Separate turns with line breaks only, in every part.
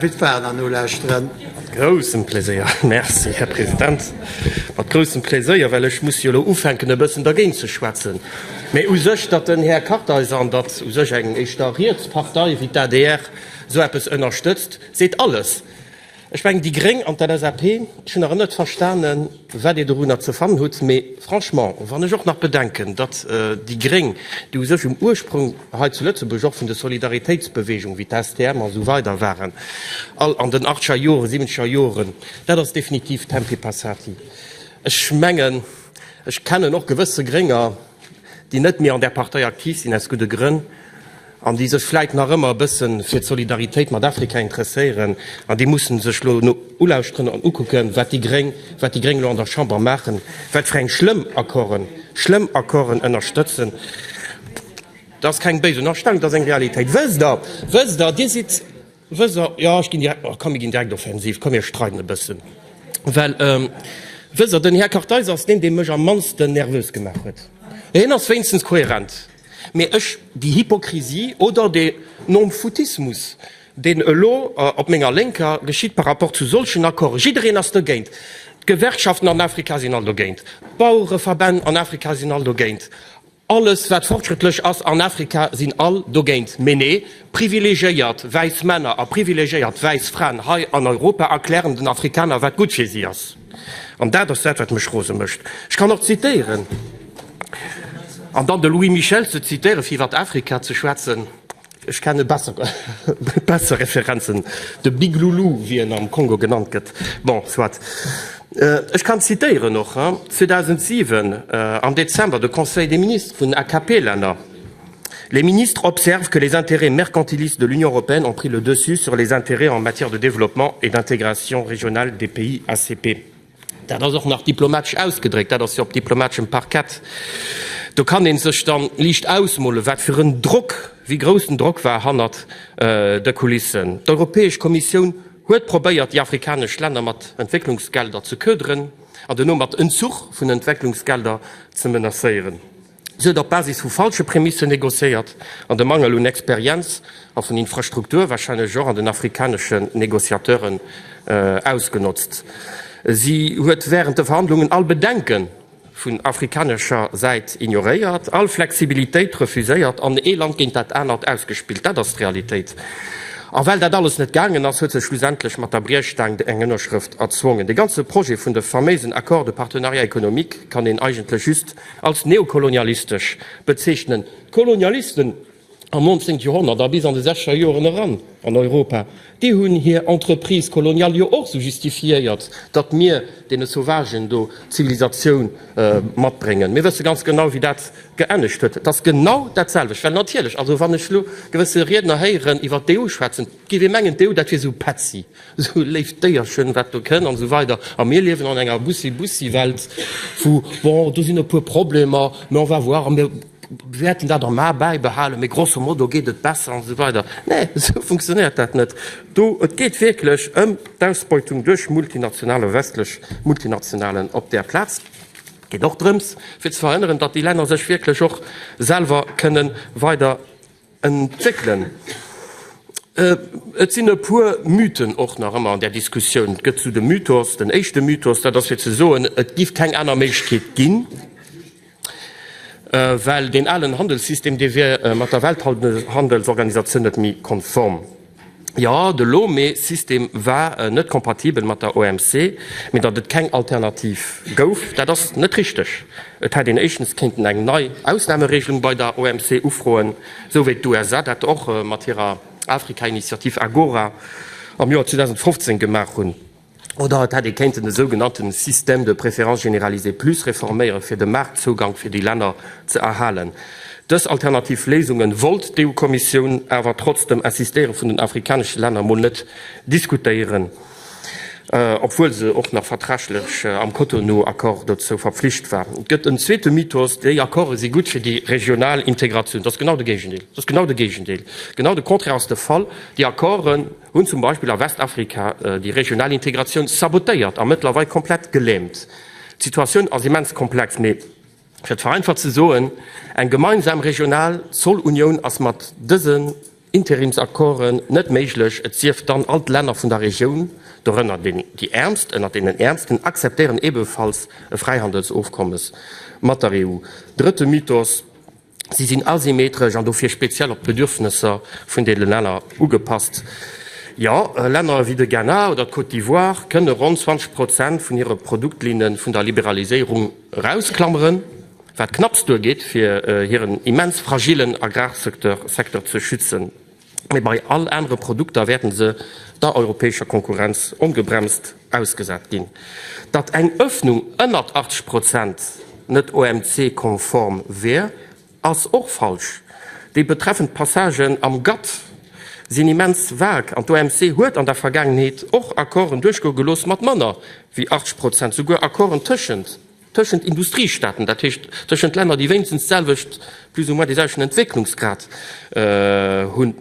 Gutt faren an nolauscheren. Groussen Pléséier, Merci, Här President. Mat groussem Pléséier, well ech muss jo elo ufänken, e bëssen dergéint ze schwätzen. Mee u sech, datt den Här Kartheiser an datt u sech eng éischter riets Partei wéi d'ADR esou eppes ënnerstëtzt, seet alles. Ech mengen, déi Gréng an d'LSAP, ech hunn nach ëmmer net verstanen, wat Dir dorunner ze fannen hutt, mee franchement, wann ech och nach bedenken, datt déi Gréng, déi u sech um Ursprung hei zu Lëtzebuerg och vun de Solidaritéitsbewegung wéi d'STM a sou weider waren, all an den achtzeger Joren, siebenzegger Joren, dat ass definitiv tempi passati. Ech mengen, ech kennen och gewësse Grénger, déi net méi an där Partei aktiv sinn, aus gudde Grënn, an déi sech vläit nach ëmmer e bësse fir d'Solidaritéit mat Afrika interesséieren, an déi mussen sech elo ulauschteren an ukucken, wat déi Gréng, wat déi Gréng elo an der Chamber maachen, wat fir eng schlëmm Accorden, schlëmm Accorden ënnerstëtzen. Dat ass keng béis Ënnerstellung, dat ass eng Realitéit. Wësst Der, wësst Der, Dir sidd. Wëser, Jo, ech ginn direkt, ma komm mir ginn direkt offensiv, komm mir streiden e bëssen, well Wëser, den Här Kartheiser ass deen, dee mech am mannsten nervös gemaach huet. Hien ass wéinstens kohärent, mee ech, déi Hypokrisie oder dee Nomfoutismus, deen elo op menger Lénker geschitt par rapport zu solchen Accorden, jiddereen ass dogéint, d'Gewerkschaften an Afrika sinn all dogéint, d'Bauereverbänn an Afrika sinn all dogéint, Alles wat fortschrëttlech ass an Afrika sinn all dogéint. Mee nee, privilegéiert wäiss Männer a privilegéiert wäiss Fraen hei an Europa erklären den Afrikaner wat gutt fir si ass. An dat ass dat wat mech rose mécht. Ech kann och zitéieren an dann de Louis Michel ze zitéiere fir iwwert Afrika ze schwätzen. Ech kenne besser Referenzen, de Big Loulou, wéi en am Kongo genannt gëtt. Bon, soit. Ech kann zitéieren och, 2007, am Dezember, de Conseil des ministres vun AKP-Länner, Les ministres observent que les intérêts mercantilistes de l'Union européenne ont pris le dessus sur les intérêts en matière de développement et d'intégration régionale des pays ACP. Dat ass och nach diplomatesch ausgedréckt, dat ass jo op diplomateschem Parkett. Do kann ee sech da liicht ausmolen, wat fir en Drock, wéi grouss den Drock war hannert de Kulissen. D'Europäesch Kommissioun huet probéiert, déi afrikanesch Länner mat Entwécklungsgelder ze köderen an duerno mat Entzuch vun Entwécklungsgelder ze menacéieren. Si huet op Basis vu falsche Prämissen negociéiert an de Mangel un Experienz a vun Infrastruktur wahrscheinlech och an den afrikaneschen Negociateuren ausgenotzt. Si huet während de Verhandlungen all Bedenke vun afrikanescher Säit ignoréiert, all Flexibilitéit refuséiert an ee Land géint dat anert ausgespillt. Dat ass d'Realitéit. A well dat alles net gaangen ass, huet se schlussendlech mat der Briechstaang eng Ënnerschrëft erzwongen. De ganze Projet vun de faméisen Accords de partenariat économique kann een eigentlech just Als neokolonialistesch bezeechnen d'Kolonialisten am 19 Joerhonnert a bis an de sechzeger Joeren eran an Europa, déi hunn hir Entreprises coloniales jo och sou justifiéiert, datt mir deene Sauvagen do d'Zivilisatioun matbréngen. Mir wësse ganz genau, wéi dat geenegt huet. Et ass genau dat selwecht. Well natierlech, also wann ech elo gewësse Riedner héieren iwwert d'EU schwätzen, Géif ee mengen, d'EU, dat wier esou petzi, esou léift Déierchen, wat do kënn an esou weider. A mir liewen an enger Bussi-Bussi-Welt, wou, bon, do sinn e puer Problemer, mä on va voir a mir wäerten dat am A bäibehalen, mä grosso modo geet et besser an esou weider. Nee, esou funktionéiert dat net do. Et geet wierklech ëm d'Ausbeutung duerch Multinationalen, westlech Multinationalen op där Plaz. Et geet och drëms, fir ze verhënneren, datt déi Länner sech wierklech och selwer kënnen weider Entwéckelen. Et sinn e puer Mythen och nach ëmmer an där Diskussioun. Et gëtt zu de Mythos, den éischte Mythos, dat ass fir ze soen, et giff keng aner Méiglechkeet ginn, well deen alen Handelssystem, dee wier mat der Welthandelsorganisatioun net méi konform. Jo, de Lome-System war net kompatibel mat der OMC, mee datt et keng Alternativ gouf, dat ass net richteg. Et hätt een éischtens kéinten eng nei Ausnameregelung bei der OMC ufroen, sou wéi d'USA dat och mat hirer Afrika-Initiativ Agora am Joer 2015 gemaach hunn. Oder et hätt ee kéinten de sougenannte Système de préférence généralisée plus reforméieren, fir de Maartzougank fir déi Länner ze erhalen. Dës alternativ Léisungen wollt d'EU-Kommissioun awer trotz dem Insistéiere vun den afrikanesche Länner emol net diskutéieren, obwuel se och nach vertraglech am Cotonou-Accord dozou verpflicht war. Et gëtt en zweete Mythos, Déi Accorde si gutt fir déi regional Integratioun. Dat ass genau de Géigendeel! Dat ass genau de Géigendeel! Genau de Contraire ass de Fall. Déi Accorden. hunn zum Beispill a Westafrika déi regional Integratioun sabotéiert a mëttlerweil komplett geläämt. D'Situatioun ass immens komplex, mee fir et vereinfacht ze soen, Eng gemeinsam regional Zollunioun ass mat dësen Interimsaccorden net méiglech, et sief dann all d'Länner vun der Regioun, dorënner déi Äermst ënnert deenen Äermsten, akzeptéieren ebenfalls e Fräihandelsofkommes mat der EU. Drëtte Mythos. Si sinn asymmetresch an dofir speziell op d'Bedürfnesser vun de Länner ugepasst. Jo, Länner wéi de Ghana oder d'Côte d'Ivoire kënne ronn 20 Prozent vun hire Produktlinne vun der Liberaliséierung erausklammeren, wat knapps duergeet, fir hiren immens fragillen Agrarsecteur ze schützen. mee bei all anere Produkter wäerte se der europäescher Konkurrenz ongebremst ausgesat ginn. Datt eng Ëffnung ënnert 80 Prozent net OMC-konform wier, ass och falsch. Déi betreffend Passagen am GATT sinn immens vague an d'OMC huet an der Vergaangenheet och Accorden duerchgoe gelooss mat manner wéi 80 Prozent, souguer Accorden tëschent tëschent Industriestaaten, dat heescht tëschent Länner, déi wéinstens d'selwecht, plus ou moins dee selwechten Entwécklungsgrad hunn.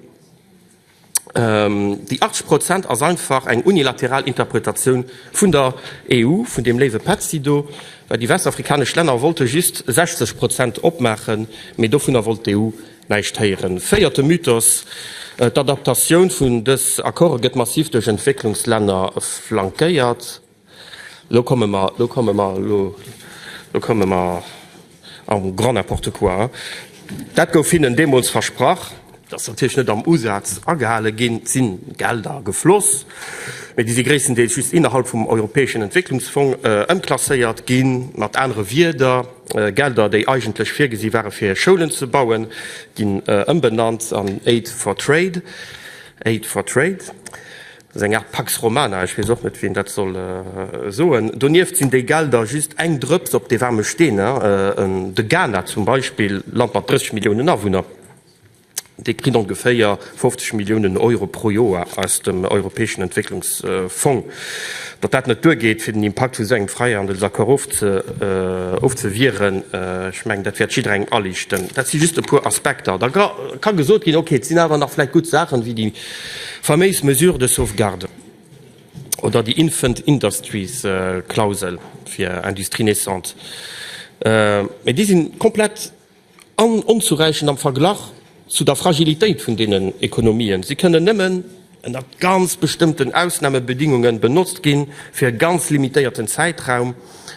Déi 80 Prozent ass einfach eng unilateral Interpretatioun vun der EU, vun deem léiwe Petzi do, well déi westafrikanesch Länner wollte just 60 Prozent opmaachen, mee dovunner wollt d'EU näischt héieren. Véierte Mythos, D'Adaptatioun vun dës Accorde gëtt massiv duerch Entwécklungslänner flankéiert. Lo komme mer, lo komme mer, lo, lo komme mer am grand n'importe quoi. Dat gouf hinnen deemools versprach. Dat ass natierlech net am Usaz agehale ginn. Et si Gelder gefloss, mee déi si gréisstendeels just innerhalb vum Europäeschen Entwécklungsfong ëmklasséiert ginn. Mat anere Wieder, Gelder, déi eigentlech virgesi ware fir Schoulen ze bauen, ginn ëmbenannt an Aid for Trade, Aid for Trade. Dat ass eng Aart Pax Romana, ech weess och net, wien dat soll soen. Donieft sinn déi Gelder just eng Drëps op de waarme Steen. De Ghana zum Beispill, Land mat 30 Milliounen Awunner, dee kritt ongeféier 50 Milliounen Euro pro Joer aus dem europäeschen Entwécklungsfong. Datt dat net duergeet, fir den Impakt vu sou engem Fräihandelsaccord ofzewieren, ech mengen, dat wäert jidderengem aliichten. Dat si just e puer Aspekter. Da ka gesot ginn, Okay, et sinn awer nach vläicht gutt Saachen, wéi déi Faméis Mesure de sauvegarde oder déi Infant Industries Klausel fir Industrie naissante, mä déi sinn komplett onzuräichend am Verglach zu der Fragilitéit vun deenen Ekonomien. Si kënnen nëmmen ënnert ganz bestëmmten Ausnahmebedingungen benotzt ginn, fir e ganz limitéierten Zäitraum.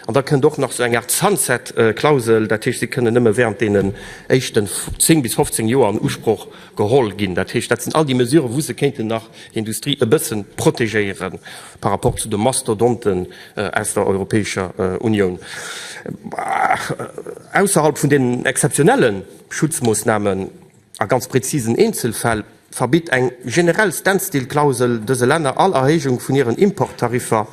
An da kënnt och nach esou eng Art Sunset Klausel, dat heescht, si kënnen nëmmen während deenen éischten 10 bis 15 Joer an Usproch Geholl ginn. Dat heescht, dat sinn all déi Mesuren, wou se kéinten nach d'Industrie e bësse protegéiere par rapport zu de Mastodonten aus der Europäescher Unioun. Ausserhalb vun deenen exzeptionelle Schutzmoossnamen a ganz präzisen Eenzelfäll verbitt eng generell Standstill-Klausel dëse Länner all Erhéijung vun hiren Importtariffer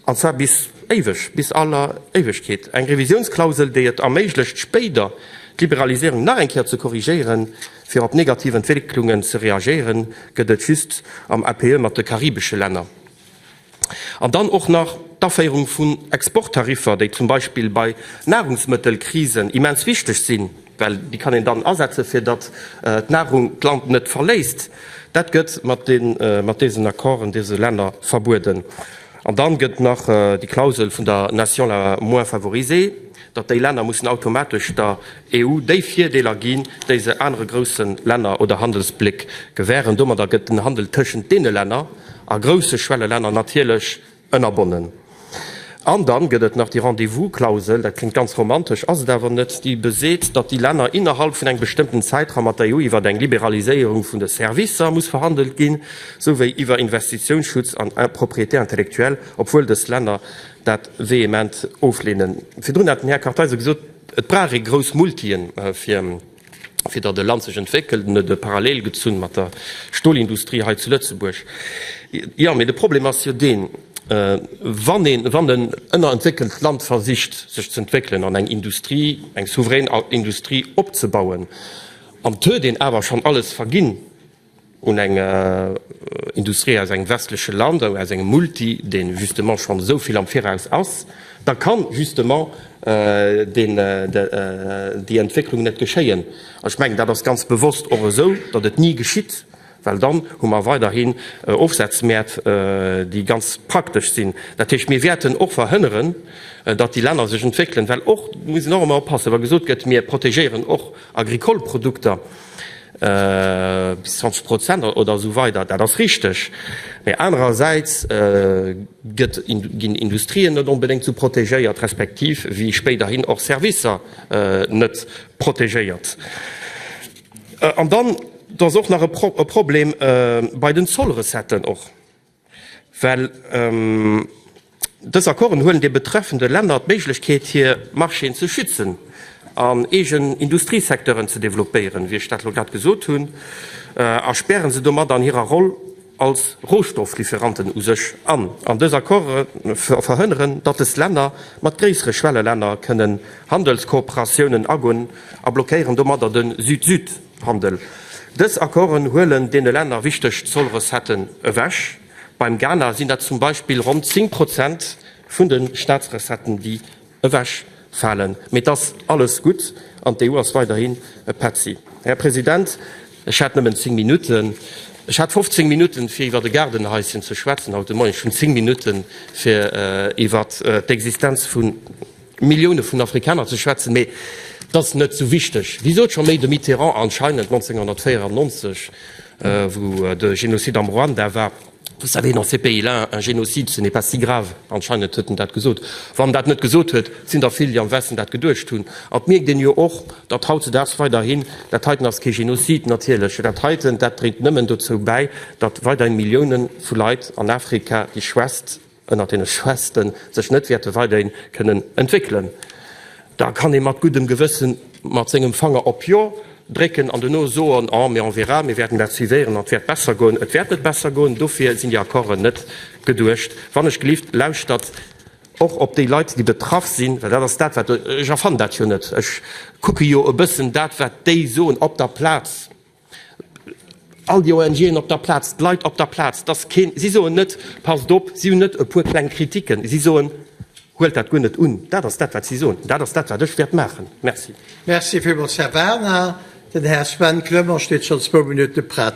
an zwar bis éiweg, bis aller Éiwegkeet, eng Revisiounsklausel, déi et erméiglecht, spéider d'Liberaliséierung nach eng Kéier ze korrigéieren, fir op negativ Entwécklungen ze reagéieren, gëtt et just am APE mat de karibesche Länner. An dann och nach d'Aféierung vun Exporttariffer, déi zum Beispill bei Nahrungsmëttelkrisen immens wichteg sinn. Well déi kann een dann asetzen, fir datt d'Nahrung d'Land net verléisst. Dat gëtt mat deesen Accorden deese Länner verbueden. An dann gëtt nach déi Klausel vun der nation la moins favorisée, datt déi Länner mussen automatesch der EU déi Virdeeler ginn, déi se anere grousse Länner oder Handelsbléck gewähren. Domadder gëtt den Handel tëschent deene Länner a grousse Schwellelänner natierlech Ënnerbonnen. An dann gëtt et nach déi Rendez-vous-Klausel, dat kléngt ganz romantesch, ass et awer net, déi beseet, datt déi Länner innerhalb vun engem bestëmmten Zäitraum mat der EU iwwert eng Liberaliséierung vun de Servicer muss verhandelt ginn, souwéi iwwer Investitiounsschutz an Propriété intellectuelle, obwuel dës Länner dat vehement ofleenen. Virdrun hat den Här Kartheiser gesot, et brauch ee grouss Multien, fir. fir datt e Land sech entwéckelt an net e Parallel gezunn mat der Stolindustrie hei zu Lëtzebuerg. Jo, mee de Problem ass jo deen, wann een, wann en ënnerentwéckelt Land versicht sech ze entwéckelen an eng Industrie, eng souverän Industrie opzebauen, an et huet een awer schonn alles verginn, un eng Industrie aus engem westleche Land, aus engem Multi, dee justement schonn esou vill am Viraus ass, da ka justement déi Entwécklung net geschéien. An ech mengen, dat ass ganz bewosst och esou, datt et ni geschitt, well dann hu mer weiderhin Ofsazmäert, déi ganz praktesch sinn. Dat heescht, mir wäerten och verhënneren, datt déi Länner sech entwéckelen, well och, do muss een och ëmmer oppassen, wa gesot gëtt, mir protegéieren och agricole Produkter, Bis 20 Prozent oder esou weider, dat ass richteg. Mä anerersäits gëtt, ginn Industrien net onbedéngt esou protegéiert, respektiv wéi spéiderhin och Servicer net protegéiert. An dann, et ass och nach e Problem bei den Zollrecetten och. Well dës Accorden huelen de betreffende Länner d'Méiglechkeet, hir Marchéen ze schützen an eegen Industriesecteuren ze développéieren, wéi ech dat elo grad gesot hunn, a späre se domat an hirer Roll als Rohstofflieferanten u sech an. An dës Accorde verhënneren, datt dës Länner mat gréissere Schwellelänner kënnen Handelskooperatiounen agoen a blockéieren domadder de Süd-Süd. Handel. Dës Accorden huelen deene Länner wichteg Zollrecetten ewech. Beim Ghana sinn dat zum Beispill ronn 10 Prozent vun de Staatsrecetten, déi ewech falen. Mee et ass alles gutt an d'EU ass weiderhin e Petzi. Här President, ech hat nëmmen zéng Minutten. Ech hat 15 Minutten, fir iwwer e Gaardenhaischen ze schwätzen haut de Moien. Ech hunn zéng Minutten, fir iwwer d'Existenz vun. Millioune vun Afrikaner ze schwätzen, mee dat ass net esou wichteg, wéi sot scho méi de Mitterrand anscheinend 1994, wou de Génocide am Ruanda war, Vous savez, dans ces pays-là, un génocide, ce n'est pas si grave. Anscheinend huet en dat gesot. Wann en dat net gesot huet, sinn der vill, déi am Westen dat geduecht hunn. An et mierkt een jo och, datt hautzedaags weiderhin, Dat heiten ass kee Génocide, natierlech, dat heiten, dat dréit nëmmen dozou bäi, datt weiderhin Millioune vu Leit an Afrika, déi schwätzt, ënnert deene Schwästen sech net wäerte weiderhin kënnen entwéckelen, da kann ee mat guddem Gewëssen mat sengem Fanger op Jo drécken an duerno soen, oh, mais on verra, mir wäerten dat suivéieren an et wäert besser goen. Et wäert net besser goen, dofir sinn déi Accorden net geduecht. Wannechgelift, lauschtert och op déi Leit, déi betraff sinn, well dat ass dat, wat ech erfann dat jo net, ech kucke jo e bëssen dat, wat déi soen op der Plaz. All déi ONGen op der Plaz, d'Leit op der Plaz, dass keen, si soen net, passt op, si hunn net e puer kleng Kritiken, si soen, huelt dat guer net un. Dat ass dat, wat si soen. Dat ass dat, wat ech wäert maachen. Merci. Merci
villmools, Här Werner. Den Här
Sven
Clement steet schonn zwou Minutte prett.